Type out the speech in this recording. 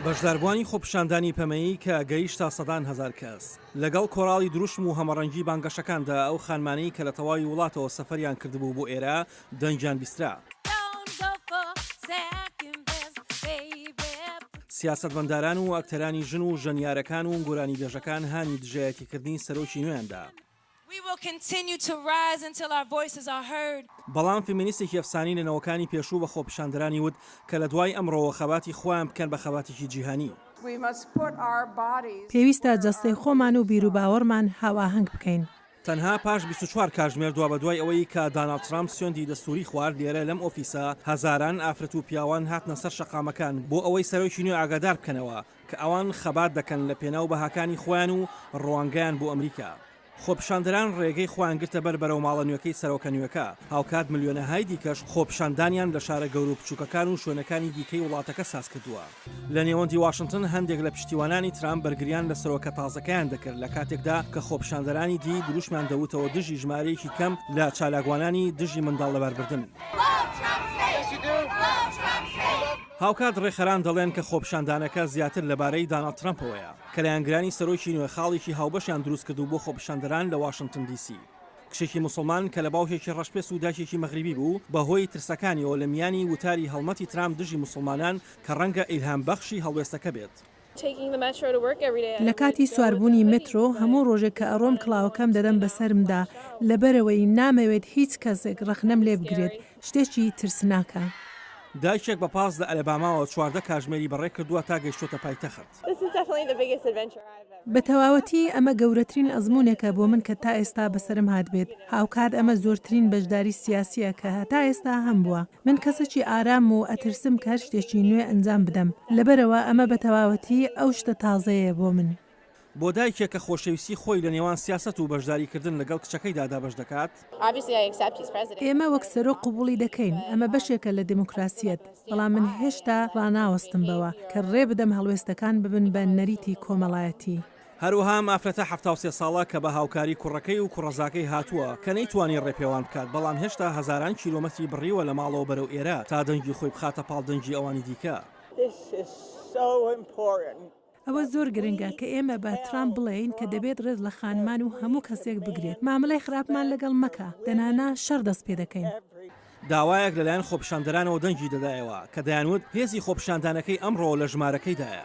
بەشداربووانی خۆپیشاندانی پەمەیی کە گەیشتە سەدان هەزار کەس، لەگەڵ کۆراڵی دروشم و هەمەڕەنگی بانگەشەکاندا ئەو خانمانەی کە لە تەواوی وڵاتەوە سەفەریان کردبوو بۆ ئێرە دەنگیان بیسترا. سیاسەتمەنداران و ئەکتەرانی ژن و ژەنیارەکان و گۆرانیبێژەکان هانی دژایەتیکردنی سەرۆکی نوێیان دا. We will continue to rise until our voices are heard. بەڵام فیمینیستێکی ئەفسانی لە نەوەکانی پێشوو بە خۆپیشاندەرانی وت کە لە دوای ئەمڕۆوە خەباتی خۆیان بکەن بە خەباتێکی جیهانی. پێویستە جەستەی خۆمان و بیروباوەڕمان هاوئاهەنگ بکەین. تەنها پاش بیست و چوار کاژمێر دوابەدوای ئەوەی کە داناڵد ترامپ سوێندی دەستووری خوارد لێرە لەم ئۆفیسە هەزاران ئافرەت و پیاوان هاتنە سەر شەقامەکان بۆ ئەوەی سەرۆکی نوێ ئاگادار بکەنەوە کە ئەوان خەبات دەکەن لە پێناو بەهاکانی خۆیان و ڕوانگەیان بۆ ئەمریکا. خۆپیشاندەران ڕێگەی خۆیان گرتە بەر بەرەو ماڵە نوێکەی سەرۆکە نوێکە، هاوکات ملیۆنەهای دیکەش خۆپیشاندانیان لە شارە گەورە و بچووکەکان و شوێنەکانی دیکەی وڵاتەکە ساز کردووە. لە نێوەندی واشنتن هەندێک لە پشتیوانانی ترامپ بەرگریان لە سەرۆکە تازەکەیان دەکرد لە کاتێکدا کە خۆپیشاندەرانی دی دروشمیان دەوتەوە دژی ژمارەیەکی کەم لە چالاکوانانی دژی منداڵ لەباربردن. هاوکات ڕێکخەران دەڵێن کە خۆپیشاندانەکە زیاتر لەبارەی داناڵد ترەمپەوەیە کە لایەنگرانی سەرۆکی نوێ خاڵێکی هاوبەشیان دروستکردوو بۆ خۆپیشاندەران لە واشنتن دی سی. کچێکی موسڵمان کە لە باوکێکی ڕەشپێست و دایکێکی مەغریبی بوو، بەهۆی ترسەکانیەوە لە میانی وتاری هەڵمەتی ترامپ دژی موسڵمانان کە ڕەنگە ئیلهامبەخشی هەڵوێستەکە بێت، لە کاتی سواربوونی مترۆ، هەموو ڕۆژێک کە ئەڕۆم کڵاوەکەم دەدەم بەسەرمدا، لەبەرئەوەی نامەوێت هیچ کەسێک ڕەخنەم لێ بگرێت، شتێکی ترسناکە. دایکێک بە پاس لە ئەلەباماوە چواردە کاژمێری بەڕێ کردووە تا گەیشتووەتە پایتەخت. بە تەواوەتی ئەمە گەورەترین ئەزموونێکە بۆ من کە تا ئێستا بەسەرم هاتبێت، هاوکات ئەمە زۆرترین بەشداری سیاسییە کە هەتا ئێستا هەمبووە. من کەسەکی ئارام و ئەترسم کە هەر شتێکی نوێ ئەنجام بدەم، لەبەرئەوە ئەمە بە تەواوەتی ئەو شتە تازەیەیە بۆ من. بۆ دایکێک کە خۆشەویستی خۆی لە نێوان سیاسەت و بەشداریکردن لەگەڵ کچەکەیدا دابەش دەکات، ئێمە وەک سەرۆک قبوڵی دەکەین، ئەمە بەشێکە لە دێموکراسیەت، بەڵام من هێشتا ڕاناوەستم بەوە کە ڕێبدەم هەڵوێستەکان ببن بە نەریتی کۆمەڵایەتی. هەروەها ئەم ئافرەتە حەفتا و سێ ساڵە کە بە هاوکاری کوڕەکەی و کوڕەزاکەی هاتووە کە نەیتوانی ڕێپێوان بکات بەڵام هێشتا هەزاران کیلۆمەتری بڕیوە لە ماڵەوە بەرەو ئێرە تا دەنگی خۆی بخاتە پاڵ دەنگی ئەوانی دیکە. ئەوە زۆر گرنگە کە ئێمە بە ترامپ بڵێین کە دەبێت ڕێز لە خانمان و هەموو کەسێک بگرێت، مامەلەی خراپمان لەگەڵ مەکە، دەنانا شەڕ دەست پێدەکەین. داوایەک لەلایەن خۆپیشاندەرانەوە دەنگی دەدایەوە کە دەیانوت هێزی خۆپیشاندانەکەی ئەمڕۆ لە ژمارەکەیدایە.